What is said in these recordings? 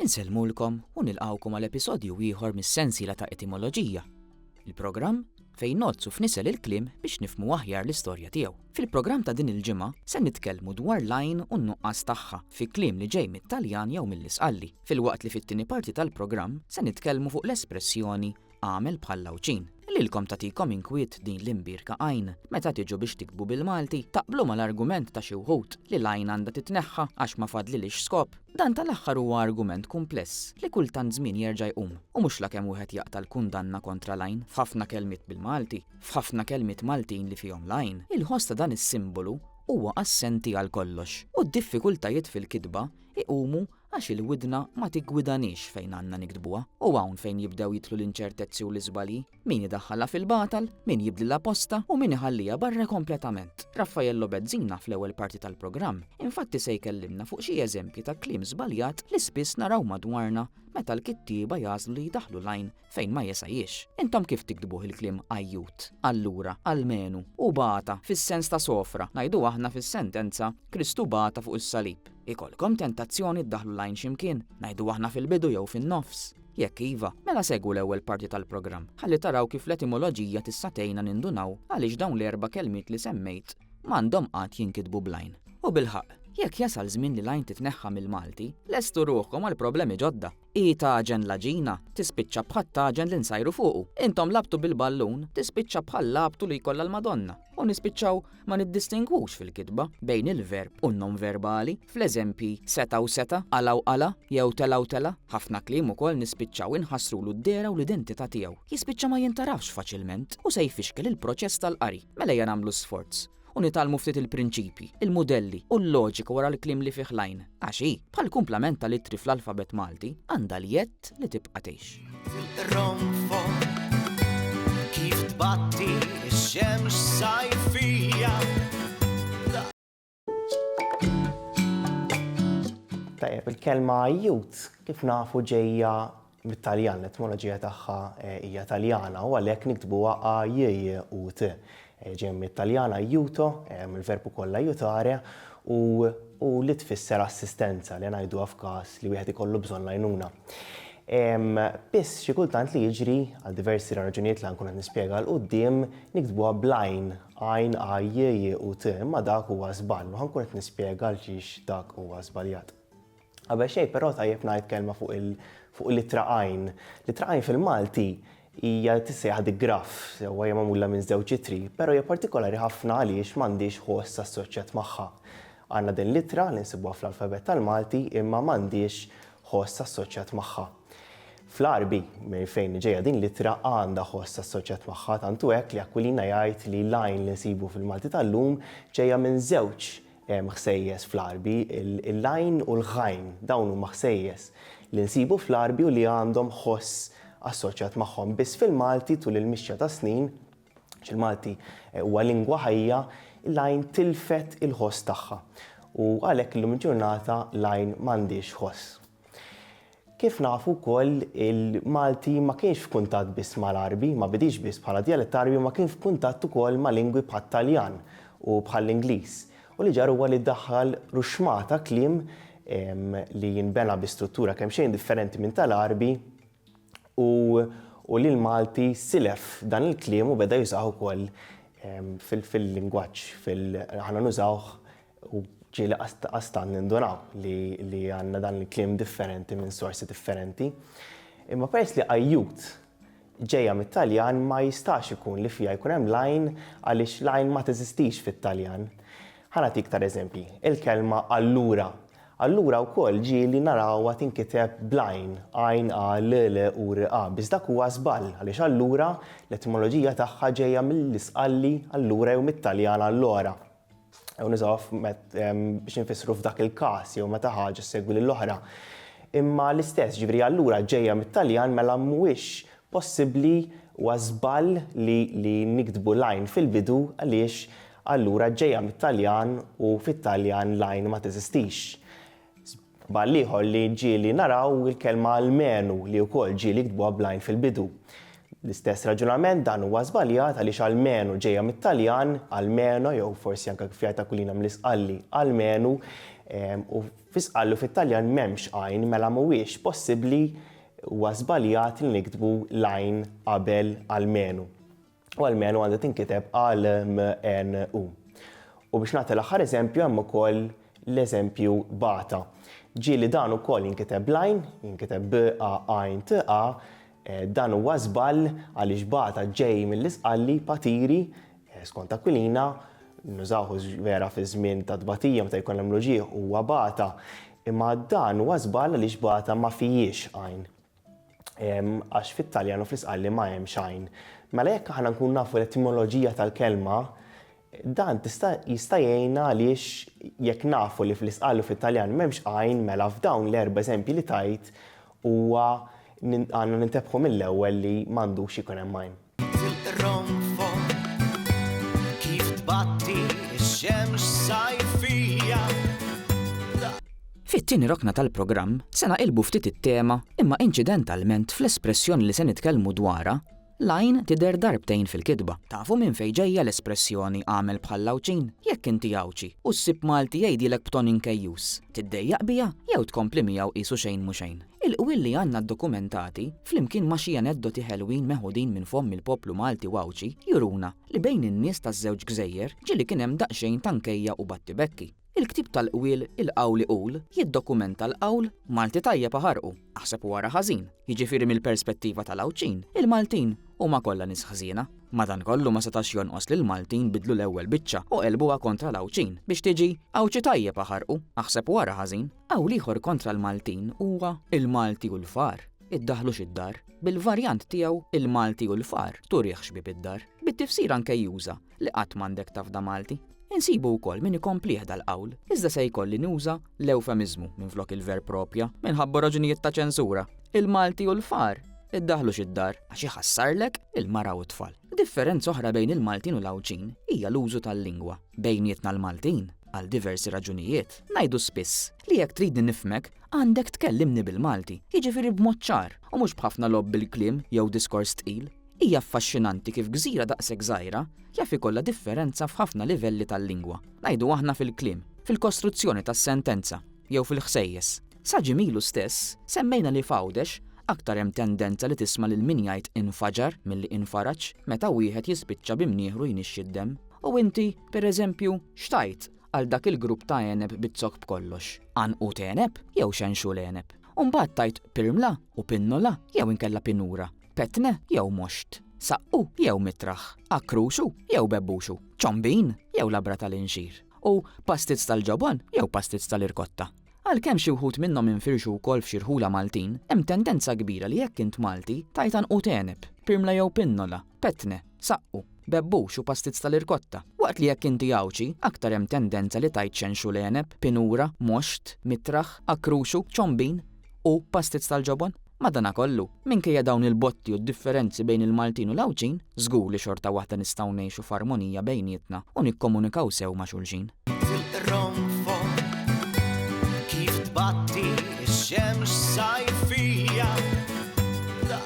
Insellmulkom u nilqgħukom għal episodju ieħor mis-sensiela ta' Etimoloġija, il-programm fejn ngħoddsu f'nisel il-kliem biex nifhmu aħjar l-istorja tiegħu. Fil-programm ta' din il-ġimgħa se nitkellmu dwar l-għajn u n-nuqqas tagħha fi kliem li ġej mit-Taljan jew mill-Isqalli, filwaqt li fit-tieni parti tal-programm se nitkellmu fuq l-espressjoni Agħmel bħall-Għawdxin. Lilkom tagħtikom inkwiet din l-imbierka għajn. Meta tiġu biex tiktbu bil-Malti, taqblu mal-argument ta' xi wħud li l-għajn għandha titneħħa għax ma fadlilhiex skop? Dan tal-aħħar huwa argument kumpless li kull tant żmien jerġa' jqum u mhux lakemm wieħed jaqta' l-kundanna kontra l-għajn f'ħafna kelmiet bil-Malti, f'ħafna kelmiet Maltin li fihom l-għajn. Il-ħoss ta' dan is-simbolu huwa assenti għal kollox u d-diffikultajiet fil-kitba jqumu Għax il-widna ma tiggwidaniex fejn għandna niktbuha, u hawn fejn jibdew jidħlu l-inċertezzi u l-iżbalji. Min idaħħalha fil-batal, min jibdlilha postha u min iħalliha barra kompletament. Raffaello Bezzina fl-ewwel parti tal-programm infatti se jkellimna fuq xi eżempji ta' kliem żbaljat li spiss naraw madwarna meta l-kittieba jagħżlu li jdaħħlu l-għajn fejn ma jesajiex. Intom kif tiktbuh il-kliem għajjut, allura, almenu, hu bata fis-sens ta' sofra, ngħidu aħna fis-sentenza Kristu bata fuq is-salib. Ikollkom tentazzjoni ddaħħlu l-għajn xi mkien, ngħidu aħna fil-bidu jew fin-nofs? Jekk iva, mela segwu l-ewwel parti tal-programm ħalli taraw kif l-etimoloġija tista' tgħinna nindunaw għaliex dawn l-erba' kelmiet li semmejt m'għandhom qatt jinkitbu bl-għajn. U bilħaqq, jekk jasal żmien li l-għajn titneħħa mill-Malti, lestu ruħkom għal problemi ġodda! Hi tagħġen l-għaġina, tispiċċa bħat-tagħġen li nsajru fuqu. Intom lagħbtu bil-ballun, tispiċċa bħal lagħbtu li jkollha l-Madonna. U nispiċċaw ma niddistingwux fil-kitba bejn il-verb u n-nonverbali, fl-eżempji seta' u seta', qala u qala, jew tela' u tela'. Ħafna kliem ukoll nispiċċaw inħassrulu d-dehra u l-identità tiegħu. Jispiċċa ma jintgħarafx faċilment u se jfixkel il-proċess tal-qari. Mela ejja nagħmlu sforz. u nitgħallmu ftit il-prinċipji, il-mudelli u l-loġika wara l-kliem li fih l-għajn, għax hi, bħall-kumplament tal-ittri fl-alfabet Malti, għandha l-jedd li tibqa' tgħix. Ronfol kif tbatti x-xemx sajfija. Tajjeb, il-kelma youth kif nafu ġejja mit-Taljan, l-etmoloġija tagħha hija Taljana u għalhekk niktbuha a-j-j-u-t. Ġejja mit-Taljan aiuto, mill-verb ukoll aiutare, u li tfisser assistenza, li ngħiduha f'każ li wieħed ikollu bżonn l-għajnuna. Biss xi kultant li jiġri, għal diversi raġunijiet li ħa nkun qed nispjega 'l quddiem, niktbuha bl-għajn, għajn a-j-j-u-t, imma dak huwa żball u ħa nkun qed nispjega għalxiex dak huwa żbaljat. Qabel xejn però tajjeb ngħid kelma fuq il fuq l-ittra għajn. L-ittra għajn fil-Malti hija tissejjaħ digraff, sewwa hija magħmula minn żewġ ittri, però hija partikolari ħafna għaliex m'għandhiex ħoss assoċjat magħha. Għandna din l-ittra li nsibuha fl-alfabett tal-Malti imma m'għandhiex ħoss assoċjat magħha. Fl-Għarbi, minn fejn ġejja din l-ittra, għandha ħoss assoċjat magħha, tant hu hekk li Aquilina jgħid li l-għajn li nsibu fil-Malti tal-lum ġejja minn żewġ Hemm ħsejjes fl-għarbi, il-lajn u l-ħajn. Dawn huma ħsejjes li nsibu fl-għarbi u li għandhom ħoss assoċjat magħhom. Biss fil-Malti, tul il-mixja tas-snin, għax il-Malti huwa lingwa ħajja, il-lajn tilfet il-ħoss tagħha. U għalhekk illum il-ġurnata l-għajn m'għandhiex ħoss. Kif nafu wkoll, il-Malti ma kienx f'kuntatt biss mal-Għarbi, ma bidiex biss bħala djalett Għarbi imma kien f'kuntatt ukoll ma' lingwi bħat-Taljan u bħall-Ingliż. U li ġara huwa li ddaħħal ruxxmah ta' kliem li nbena bi struttura kemxejn differenti minn tal-Għarbi u li l-Malti silef dan il-kliem u beda jużah ukoll fil-lingwaġġ, aħna nużawh u ġieli qastant nindunaw li għandna dan il-kliem differenti minn sorsi differenti. Imma peress li ajjut ġejja mit-Taljan ma jistax ikun li fiha jkun hemm l-għajn għaliex l-għajn ma teżistix fit-Taljan. Ħa nagħtik tar eżempji, il-kelma allura. Allura wkoll ġieli narawha tinkiteb bl-għajn, għajn a l l u r a, biss dak huwa żball għaliex allura l-etimoloġija tagħha ġejja mill-Isqalli allura jew mit-Taljan allora. jew niżgħu biex infissru f'dak il-każ jew meta ħaġa ssegwi lill-oħra. Imma l-istess, ġifieri allura ġejja mit-Taljan mela mhuwiex possibbli huwa żball li niktbu line fil-bidu għaliex allura ġejja mit-Taljan u fit-Taljan line ma teżistix. B'għal ieħor li ġieli naraw il-kelma almenu li wkoll ġieli ktbuha bl-għajn fil-bidu. L-istess raġunament dan huwa żbaljat għaliex almenu ġejja mit-Taljan, almeno jew forsi anke kif jgħid Aquilina mill-Isqalli, almenu, u fi Sqalli u fit-Taljan m'hemmx għajn mela mhuwiex possibbli, huwa żbaljat li niktbu l-għajn qabel almenu. u almenu għandha tinkiteb għal MNU. U biex nagħti l-aħħar eżempju hemm ukoll l-eżempju bata. Ġieli dan ukoll jinkiteb blajn, jinkiteb b a għajn t a, eh, dan huwa żball għaliex bata ġej mill-isqalli patiri eh, skont Aquilina nużawħu vera fi żmien ta' tbatija meta jkun hemm loġieħ huwa bata. Imma dan huwa żball għaliex bata ma fijiex għajn. għax fit-Taljan u fl-Isqalli ma hemm xajn. Mela jekk aħna nkun nafu l-etimoloġija tal-kelma, dan tista' jista' jgħinna għaliex jekk nafu li fl-Isqalli u fit-Taljan m'hemmx għajn mela f'dawn l-erba' eżempji li tajt huwa għandna nintebħu mill-ewwel li m'għandux ikun hemm għajn. Fit-tieni rokna tal-programm se naqilbu ftit it-tema imma inċidentalment fl-espressjoni li se nitkellmu dwarha l-għajn tidher darbtejn fil-kitba. Tafu minn fejn ġejja l-espressjoni għamel bħal Għawdxin? Jekk inti Għawdxi u ssib Malti jgħidilek b'ton inkejjus, tiddejjaq biha jew tkompli miegħu qisu xejn mhu xejn? Il-qwiel li għandna ddokumentati, flimkien ma' xi aneddoti ħelwin meħudin minn fomm il-poplu Malti u Għawdxi, juruna li bejn in-nies taż-żewġ gżejjer ġieli kien hemm daqsxejn ta' nkejja u battibekki. Il-ktieb tal-qwiel Il-Qawl Iqul jiddokumenta l-qawl Malti tajjeb aħarqu, aħseb u ara ħażin. Jiġifieri mill-perspettiva tal-Għawdxin, il-Maltin huma kollha nies ħżiena. Madankollu ma setax jonqos li l-Maltin biddlu l-ewwel biċċa u qelbuha kontra l-Għawdxin biex tiġi Għawdxi tajjeb aħarqu, aħseb u ara ħażin. Qawl ieħor kontra l-Maltin huwa Il-Malti hu l-far, iddaħħlux id-dar, bil-varjant tiegħu Il-Malti hu l-far, turihx bieb id-dar, bit-tifsira nkejjuża li qatt m'għandek tafda Malti. Insibu wkoll min ikomplih dal-qawl, iżda se jkolli nuża l-ewfemiżmu minflok il-verb proprja minħabba raġunijiet ta' ċensura. Il-Malti hu l-far, iddaħħlux id-dar, għax iħassarlek il-mara u t-tfal. Differenza oħra bejn il-Maltin u l-Għawdxin hija l-użu tal-lingwa. Bejnietna l-Maltin, għal diversi raġunijiet, ngħidu spiss li jekk tridni nifhmek, għandek tkellimni bil-Malti, jiġifieri b'mod ċar u mhux b'ħafna logħob bil-kliem jew diskors tqil. Hija affaxxinanti kif gżira daqshekk żgħira jaf ikollha differenza f'ħafna livelli tal-lingwa, ngħidu aħna fil-kliem, fil-kostruzzjoni tas-sentenza jew fil-ħsejjes. Sa ġimgħa ilu stess, semmejna li f'Għawdex, aktar hemm tendenza li tisma' lil min jgħid infaġar milli infaraġ meta wieħed jispiċċa bi mnieħru jnixxi d-demm. U inti, per eżempju, x'tgħid għal dak il-grupp ta' għeneb bit-zokk b'kollox? Għanqud għeneb jew xenxul għeneb? U mbagħad tgħid pirmla u pinnola jew inkella pinura? Petne jew moxt? Saqqu jew mitraħ? Akkruxu jew bebbuxu? Ċombin jew labra tal-inxir? U pastizz tal-ġobon jew pastizz tal-irkotta? Għalkemm xi wħud minnhom infirxu wkoll f'xi rħula Maltin, hemm tendenza kbira li jekk int Malti, tgħid għanqud għeneb, pirmla jew pinnola, petne, saqqu, bebbux u pastizz tal-irkotta, waqt li jekk inti Għawdxi, aktar hemm tendenza li tgħid xenxul għeneb, pinura, moxt, mitraħ, akkruxu, ċombin u pastizz tal-ġobon. Madanakollu, minkejja dawn il-botti u d-differenzi bejn il-Maltin u l-Għawdxin, żgur li xorta waħda nistgħu ngħixu f'armonija bejnietna u nikkomunikaw sew ma' xulxin. Fil-qronfol kif tbatti x-xemx sajfija ta'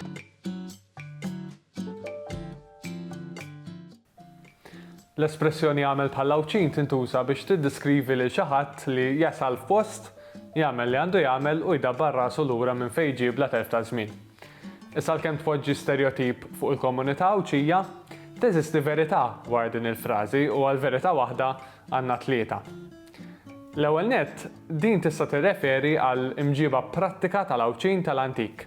L-espressjoni jagħmel bħall-Għawdxin tintuża biex tiddiskrivi lil xi ħadd li jasal f'post, jagħmel li għandu jagħmel u jdabbar rasu lura minn fejn ġie bla telf ta' żmien. Issa għalkemm tpoġġi sterjotip fuq il-komunità Għawdxija, teżisti verità wara din il-frażi u għal verità waħda għandna tlieta. L-ewwel nett, din tista' tirreferi għal imġieba prattika tal-Għawdxin tal-antik.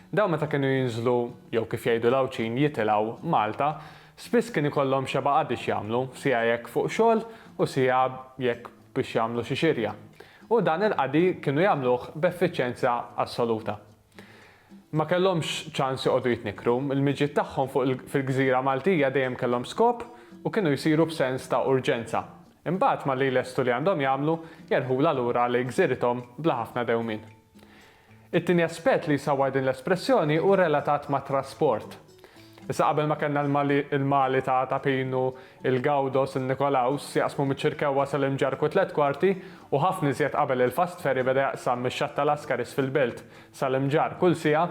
Dawn meta kienu jinżlu, jew kif jgħidu l-Għawdxin jitilgħu, Malta, spiss kien ikollhom xeba' qadi x'jagħmlu, siegħa jekk fuq xogħol u siegħa jekk biex jagħmlu xi xirja. U dan il-qadi kienu jagħmluh b'effiċjenza assoluta. Ma kellhomx ċans joqogħdu jitnikkru, il-miġjiet tagħhom fuq il, fil-gżira Maltija dejjem kellhom skop u kienu jsiru b'sens ta' urġenza. Imbagħad malli jlestu li għandhom jagħmlu, jerħulha lura lejn gżirithom bla ħafna dewmien. It-tieni aspett li jsawwar din l-espressjoni hu relatat mat-trasport. Issa qabel ma kellna l-Mali ta' Tapin u l-Gawdos u Nikolaus jaqsmu miċ-Ċirkewwa sal-Imġarrk u t-Tliet Kwarti u ħafna iżjed qabel il-fast ferry beda jaqsam mix-Xatt ta' Lascaris fil-Belt sal-Imġarr kull siegħa,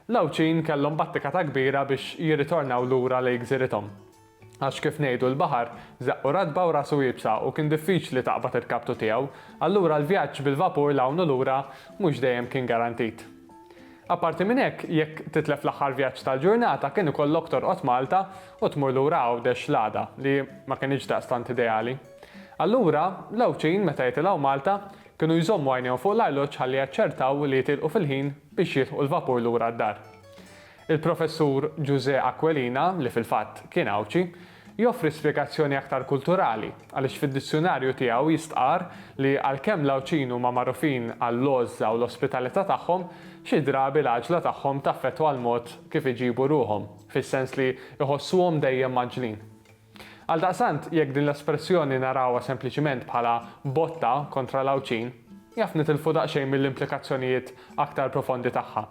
l-Għawdxin kellhom battikata kbira biex jirritornaw lura lejn gżirithom. Għax kif ngħidu l-baħar żaqqu ratba u rasu iebsa u kien diffiċli taqbad il-kaptu tiegħu, allura l-vjaġġ bil-vapur 'l hawn u lura mhux dejjem kien garantit. Apparti minn hekk, jekk titlef l-aħħar vjaġġ tal-ġurnata kien ikollok torqod Malta u tmur lura Għawdex l-għada, li ma kinitx daqstant ideali. Allura, l-Għawdxin meta jitilgħu Malta, kienu jżommu għajnejhom fuq l-arloġġ ħalli jaċċertaw li jitilqu fil-ħin biex jilħqu l-vapur lura d-dar. Il-Professur Ġużè Aquilina, li fil-fatt kien Għawdxi, joffri spjegazzjoni aktar kulturali, għaliex fid-dizzjunarju tiegħu jistqarr li għalkemm l-Għawdxin huma magħrufin għall-għożża u l-ospitalità tagħhom, xi drabi l-għaġla tagħhom taffettwa l-mod kif iġibu ruħhom, fis-sens li jħossuhom dejjem mgħaġġlin. Għaldaqstant, jekk din l-espressjoni narawha sempliċiment bħala botta kontra l-Għawdxin, jaf nitilfu daqsxejn mill-implikazzjonijiet aktar profondi tagħha.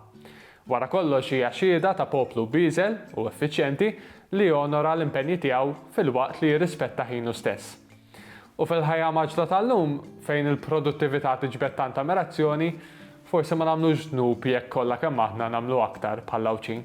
Wara kollox hija xhieda ta' poplu bieżel u effiċjenti li jonora l-impenji tiegħu filwaqt li jirrispetta ħinu stess. U fil-ħajja maġla tal-lum, fejn il-produttività tiġbed tant ammirazzjoni, forsi ma nagħmlux dnub jekk kollha kemm aħna nagħmlu aktar bħall-Għawdxin.